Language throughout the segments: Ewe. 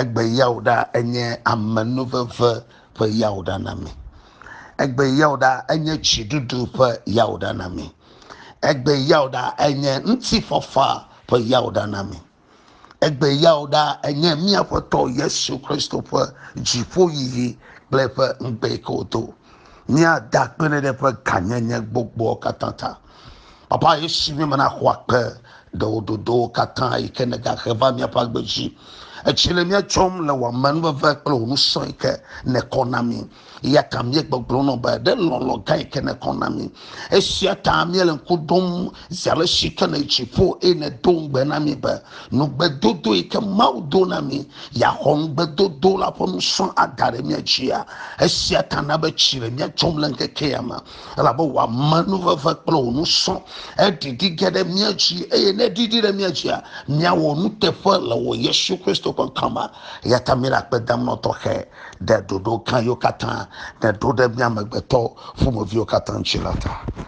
Egbe yawuɖa enye amenuveve ƒe yawuɖa na mi. Egbe yawuɖa enye dziɖuɖu ƒe yawuɖa na mi. Egbe yawuɖa enye ŋutifafa ƒe yawuɖa na mi. Egbe yawuɖa enye mía Aƒetɔ Yesu Kristo ƒe dziƒoyiyi kple eƒe ŋugbekewo to. míada akpe ɖe ɖe ƒe gãnyenye gbogboa katã ta. Papa, esi mi mena xɔ akpe ɖe wo dodowo katã yi ke nègahe va míaƒe agbe dzi. Etsi le mía tsɔm le wò amenuveve kple wò ŋusẽ yi ke nèkɔ na mi. Eya ta míegbɔgblɔ nɔ be ɖe lɔlɔ̃ gã yi ke nèkɔ na mi. Esia ta míele ŋku ɖom Zi ale si ke le dziƒo eye nèdo ŋugbe na mí be nugbedodo yi ke Mawu do na mí yeaxɔ ŋugbedodo la ƒe nusrɔ̃ ada ɖe mía dzia. Esia ta na be tsi le mía dzɔm le ŋkeke ya me, elabe wò amenuveve kple wò nusrɔ̃ eɖiɖi ge ɖe mía dzi, eye ne eɖiɖi ɖe mía dzia, míawɔ nuteƒe le wò Yesu Kristo ƒe ŋkɔ me. Eya ta míele akpe dam nɔ tɔxɛ ɖe ɖoɖo gã yiwo katã nèɖo ɖe mí amegbetɔ ƒomeviwo katã dzi la ta.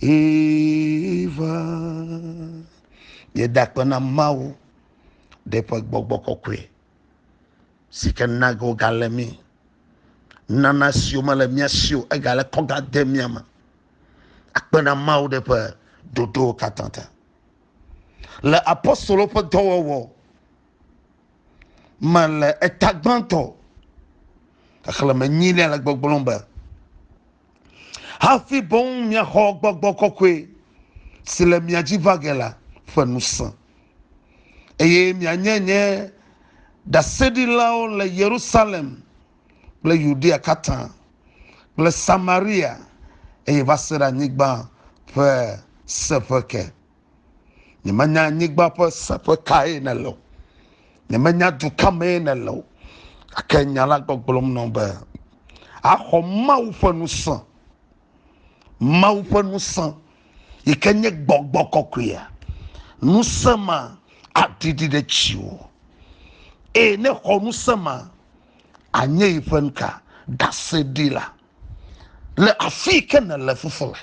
Eva, yeda akpe na Mawu ɖe ƒe gbɔgbɔ kɔkɔe si ke na ge wogale mí. Nana siwo mele mía si o egale kɔga de mía me. Akpe na Mawu ɖe ƒe ɖoɖowo katã ta. Le apostolo ƒe dɔwɔwɔ me le eta gbãtɔ xexlẽme nyilia le gbɔgblɔm be hafi boŋ miaxɔ gbɔgbɔ kɔkɔe si le mia dzi va ge la ƒe ŋusẽ, eye mianye nye ɖaseɖilawo le Yerusalem kple Yudea katã kple Samaria, eye va se ɖe anyigba ƒe seƒe ke. nyemenya anyigba ƒe seƒe kae nèle o nyemenya du ka mee nèle o gake nya la gbɔgblɔm nɔ be axɔ mawu ƒe ŋusẽ mawu ƒe ŋusẽ yi ke nye gbɔgbɔ kɔkɔea ŋusẽ ma aɖiɖi ɖe dziwò eye ne xɔ ŋusẽ ma anye yi ƒe nuka ɖaseɖila le afi yi ke nèle fufu le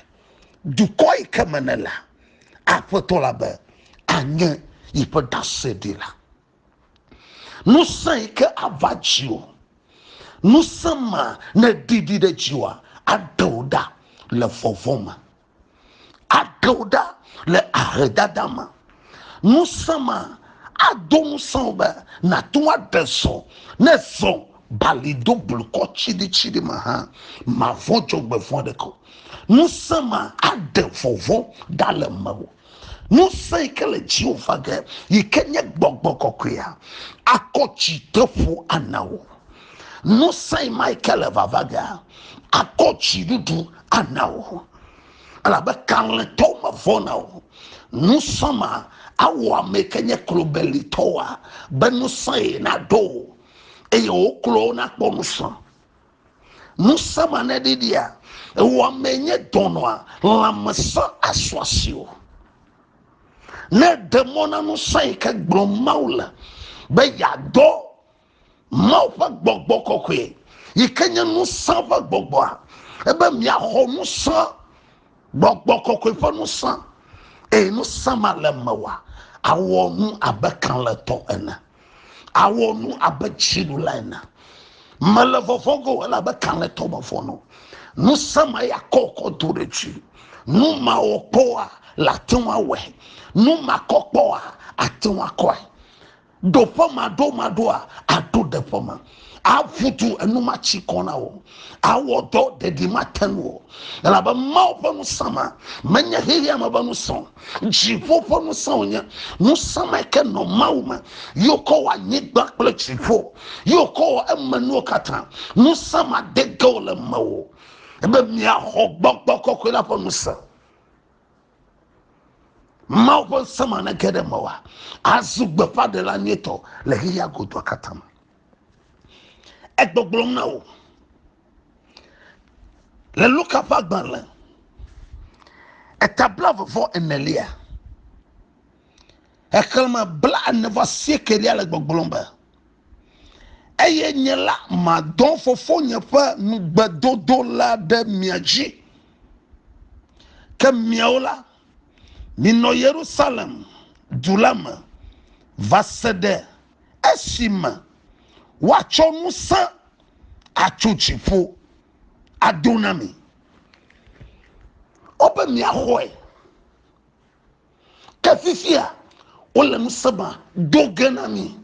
dukɔ yi ke me nèle aƒetɔ la be anye yiƒe ɖaseɖila ŋusẽ yi ke ava dziwò ŋusẽ ma ne ɖiɖi ɖe dziwòa aɖewo ɖa le vɔvɔ̃ me Aɖe wò ɖa le ahedada me. Ŋusẽ ma ado ŋusẽ wò be nàte ŋu aɖe zɔ ne zɔ bali do blukɔ tsiɖitsiɖi me hã. Màvɔ̃ dzɔgbevɔ̃ aɖeke o. Ŋusẽ ma aɖe vɔvɔ̃ ɖa le mewò. Ŋusẽ yi ke le dziwò va ge yi ke nye gbɔgbɔ kɔkɔea akɔ tsideƒo ana wò. Ŋusẽ yi ma yi ke le vava ge akɔ dziɖuɖu ana wò. Elabe kalẽtɔwo mevɔ̃na o. Ŋusẽ ma awɔ ame yi ke nye klobelitɔwoa be ŋusẽ ye naɖo wò eye wò klowo nakpɔ ŋusẽ. Ŋusẽ ma ne ɖiɖia, ewɔamee nye dɔnɔa, lãmesẽ asɔ asi o. Ne de mɔ na ŋusẽ yi ke gblɔm Mawu le be yeadɔ Mawu ƒe gbɔgbɔ kɔkɔe yi ke nye ŋusẽ ƒe gbɔgbɔa, ebe miaxɔ ŋusẽ Gbɔgbɔ kɔkɔe ƒe ŋusẽ, eye ŋusẽ ma le mewòa, awɔ nu abe kalẽtɔ ene, awɔ nu abe dziɖula ene. Mele vɔvɔ̃ ge o, elabe kalẽtɔ mevɔ̃na o. Ŋusẽ ma ya kɔ kɔ do ɖe dzi. Nu mawɔ kpɔa le ate ŋu awɔe, nu makɔ kpɔa ate ŋu akɔe. Ɖo ƒe ma ɖo ma ɖoa, aɖo ɖe ƒe ma. Aƒu du enu ma tsi kɔ na wò. Awɔ dɔ ɖeɖi ma te nu o. Elabe Mawu ƒe ŋusẽ ma menye xexea me ƒe ŋusẽ o. Dziƒo ƒe ŋusẽ wònye. Ŋusẽ ma ke nɔ Mawu me. Yewo kɔ wɔ anyigba kple dziƒo. Yewo kɔ wɔ eme nuwo katã. Ŋusẽ ma de ge wòle mewò. Ebe miaxɔ gbɔgbɔ kɔkɔe la ƒe ŋusẽ. mawu ƒe ŋusẽ ma nege ɖe mewa azu gbeƒãɖela nyuitɔ le xexea godoa katã me egbɔgblɔm na wò le luka ƒe agbalẽ etabla vevɔ enelia exlẽme bla ene va siekelia le gbɔgblɔm be eye nye la madɔ fofonye ƒe nugbedodo la ɖe mia dzi Ke miawo la, minɔ Yerusalem du la me va se ɖe esime woatsɔ ŋusẽ atso dziƒo ado na mi. O be miaxɔe. Ke fifia wole ŋusẽ ma do ge na mi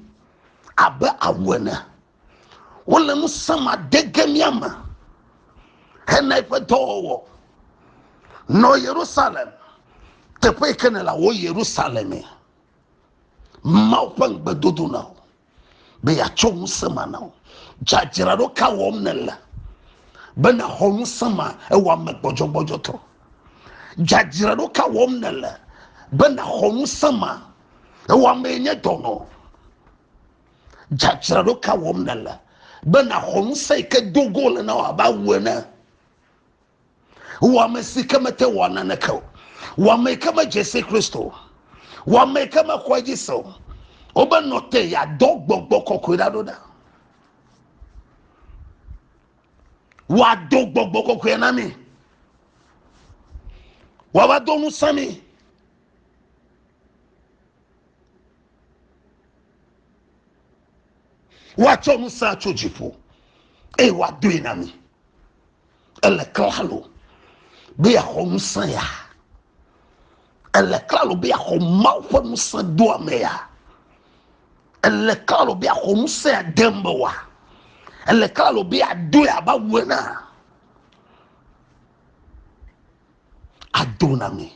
abe awu ene. wole ŋusẽ ma de ge mía me hena eƒe dɔwɔwɔ. Nɔ Yerusalem, teƒe yi ke nèle wò Yerusalem me. Mawu ƒe ŋugbedodo na wò be yeatsɔ ŋusẽ ma na wò. Dzadzraɖo ka wɔm nèle be nàxɔ ŋusẽ ma ewɔame gbɔdzɔgbɔdzɔtɔ? Dzadzraɖo ka wɔm nèle be nàxɔ ŋusẽ ma ewɔamee nye dɔnɔ? Dzadzraɖo ka wɔm nèle be nàxɔ ŋusẽ yi ke do go le na wò abe awu ene? Wò ame si ke mete wɔ naneke o, wò ame yi ke medze si Kristo o, wò ame yi ke mexɔ edzi se o, wobe nɔ te yeadɔ gbɔgbɔ kɔkɔe ɖa ɖo ɖa. Wòado gbɔgbɔ kɔkɔe na mi. Wòava do ŋusẽ mi. Woatsɔ ŋusẽ atso dziƒo eye woadoe na mi. Ele klalo be yeaxɔ ŋusẽ ya. Ele klalo be yeaxɔ Mawu ƒe ŋusẽ doa me ya. Ele klalo be yeaxɔ ŋusẽ ya de me wa. Ele klalo be yeadoe abe awu ene. Ado na mi.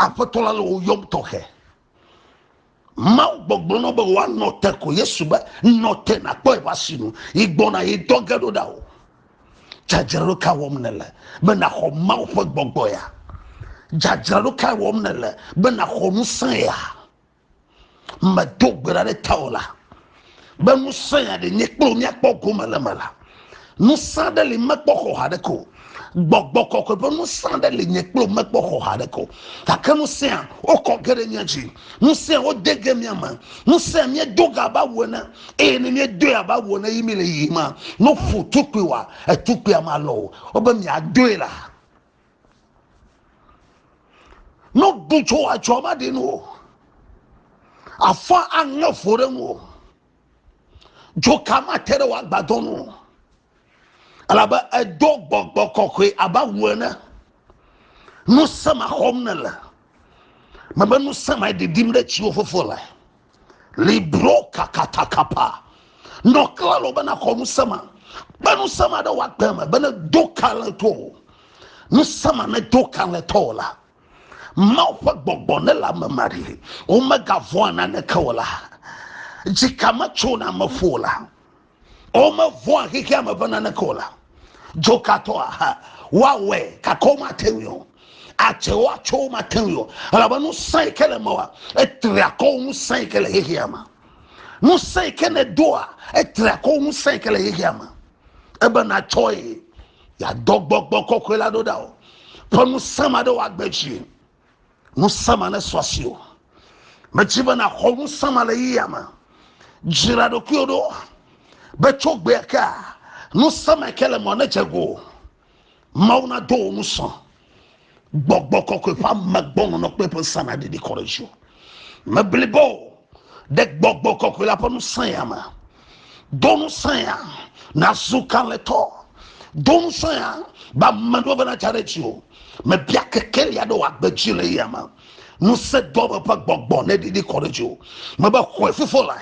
Aƒetɔ la le wò yɔm tɔxɛ. Mawu gbɔgblɔ nɔ be woanɔ te ko Yesu be nɔ te nakpɔ eƒe asinu yi gbɔna yi dɔ ge ɖo ɖa o. Dzadzraɖo ka wɔm nèle be naxɔ Mawu ƒe gbɔgbɔ ya? Dzadzraɖo ka wɔm nèle be naxɔ ŋusẽ ya? medo gbe ɖa ɖe tawò la be ŋusẽ ya ɖe nye kple míakpɔ gome le me la ŋusẽ aɖe li mekpɔ xɔ haɖe ko gbɔgbɔ kɔkɔe ƒe ŋusẽ aɖe li nye kple mekpɔ xɔ haɖe ko gake ŋusẽa wokɔ ge ɖe mía dzi ŋusẽa wode ge mía me ŋusẽa míedo ga abe awu ene eye ne míedoe abe awu ene yi mi le yiyim ma ne ƒu tukpuiwa etukpuia malɔ o wobe miadoe la ne woɖu tso atsɔ ma ɖi nu o afɔ aŋe fo ɖe ŋu o dzoka mate ɖe wòagbadɔ nu o elabe edo gbɔgbɔ kɔkɔe abe awu ene nu sema xɔm nele mebe nu sema ɖiɖim ɖe tsiwo fofo le libro kakatakapa nɔ kla lɔ bena xɔ ŋusẽ ma kpe ŋusẽ ma ɖe wò agbe me bene do kalẽtɔ o ŋusẽ ma ne do kalẽtɔ o la mawu ƒe gbɔgbɔ ne le ame ma ɖi womegavɔa naneke o la dzika metsona me ƒo la Womevɔ̃a xexea me ƒe naneke o la, dzokatɔa hã woawɔe gake womate ŋui o. Adze wo atso womate ŋui o elabe ŋusẽ yi ke le mewɔa etri akɔ wu ŋusẽ yi ke le xexea me. Ŋusẽ yi ke nèdoa etri akɔ wu ŋusẽ yi ke le xexea me. Ebe nàtsɔe yeadɔ gbɔgbɔ kɔkɔe la ɖo ɖa o. Ƒe ŋusẽ ma ɖe wòagbe dzi. ŋusẽma ne sɔ asi o medzi be nàxɔ ŋusẽma le yiyia me dzra ɖokuiwo ɖo be tso gbea ke ŋusẽma ke le mɔ ne dze go mawu nado wo ŋusɔ gbɔgbɔ kɔkɔe ƒe amegbɔnɔnɔ kple ƒe ŋusẽ naɖiɖi kɔ ɖe dzi o meblibo ɖe gbɔgbɔ kɔkɔe la ƒe ŋusẽ ya me Do ŋusẽ ya nazu kalẽtɔ. Do ŋusẽ ya be ame ɖewo bena tsa ɖe dzi o. Mebia kekeli aɖe wòagbe dzi le eya me. Ŋusẽ doa me ƒe gbɔgbɔ ne ɖiɖi kɔ ɖe dziwò. Mebe xɔe fofo la.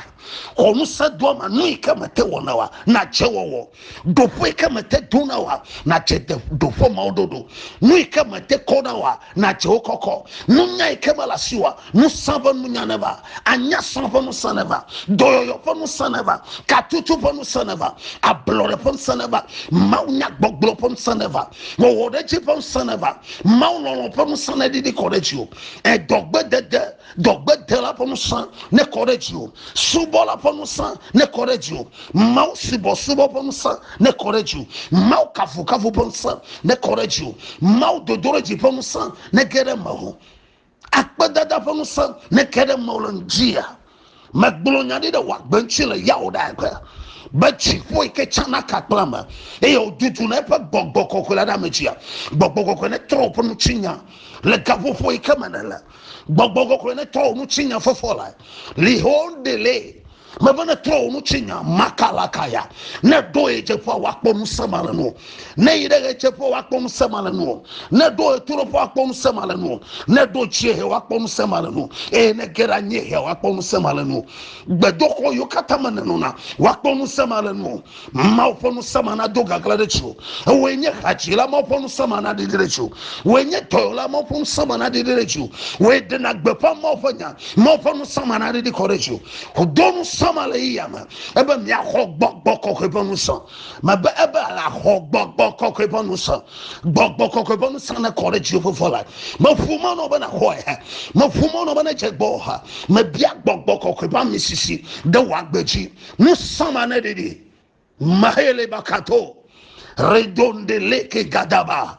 Xɔ ŋusẽ doa me nu yi ke mete wɔna oa, nadze wɔwɔ. ɖoƒe ke mete do na wa nadze ɖoƒe mawo ɖoɖo nu yi ke mete kɔ na wa nadze wo kɔkɔ nunya yi ke mele asi wa nusã ƒe nunya ne va anya sã ƒe nusã ne va dɔyɔyɔ ƒe nusã ne va katutu ƒe nusã ne va ablɔɖe ƒe nusã ne va mawu nya gbɔgblɔ ƒe nusã ne va wɔwɔ ɖe dzi ƒe nusã ne va mawu lɔlɔ ƒe nusã ne ɖiɖi kɔ ɖe dzi o edɔgbedede Dɔgbedela ƒe ŋusẽ nekɔ ɖe dziwò. Subɔla ƒe ŋusẽ nekɔ ɖe dziwò. Mawu subɔsubɔ ƒe ŋusẽ nekɔ ɖe dziwò. Mawu kafukafu ƒe ŋusẽ nekɔ ɖe dziwò. Mawu dodoɖedzi ƒe ŋusẽ nege ɖe mewò. Akpedada ƒe ŋusẽ neke ɖe mewò le ŋutia. Megblɔ nya ɖi ɖe wò agbe ŋuti le Yahudaya ƒe, be dziƒo yi ke tsana ka kple ame, eye wòduduna eƒe gbɔgbɔ kɔkɔe la ɖe ame dzia. Gbɔgbɔ kɔkɔe netrɔ wò ƒe ŋutinya le gaƒoƒo yi ke me nèle. Gbɔgbɔ kɔkɔe netrɔ wò ŋutinya fɔfɔ lae. Lihon dele. Mebe netrɔ wò ŋutinya makalakaya. Ne èɖo ɣedzeƒea, wòakpɔ ŋusẽ malenuwo. ne yi ɖe ɣedzeƒe woakpɔ ŋusẽ ma le nuwò ne ɖo ɣetoɖoƒe woakpɔ ŋusẽ ma le nuwò ne ɖo dziehe woakpɔ ŋusẽ ma le nuwò eye ne ge ɖe anyiehe woakpɔ ŋusẽ ma le nuwò gbedoxɔ yiwo katã me nenɔna woakpɔ ŋusẽ ma le nuwò mawu ƒe ŋusẽ ma nado gagla ɖe dziwò ewoe nye hadzila mawu ƒe ŋusẽ ma naɖiɖi ɖe dziwò woe nye dɔyɔla mawu ƒe ŋusẽ ma naɖiɖi ɖe dziwò woe ɖena gbeƒã mawu ƒe nya mawu ƒe ŋusẽ ma naɖiɖi kɔ ɖe dziwò do ŋusẽ ma le yiyame ebe miaxɔ gbɔgbɔ kɔkɔe ƒe ŋusẽ Mebe ebe àxɔ gbɔgbɔ kɔkɔe ƒe ŋusẽ. Gbɔgbɔ kɔkɔe ƒe ŋusẽ nekɔ ɖe dziwò ƒe la. Meƒu mɔ nɔ be nàxɔe hã. Meƒu mɔ nɔ be nedze gbɔ hã. Mebia gbɔgbɔ kɔkɔe ƒe amisisi ɖe wò agbe dzi. Ŋusẽ ma neɖiɖi. Mahele bakato. Redonde leke gadaba.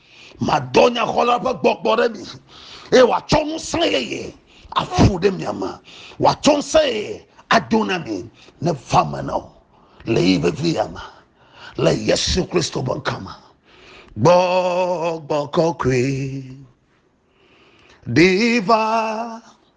Madɔ nyaxɔla ƒe gbɔgbɔ ɖe mi, eye wòatsɔ ŋusẽ yeye aƒu ɖe mia me, wòatsɔ ŋusẽ yeye ado na mi ne va me na wo le yi vevi ya me le Yesu Kristo ƒe ŋkɔ me. Gbɔgbɔ kɔkɔe ɖi va.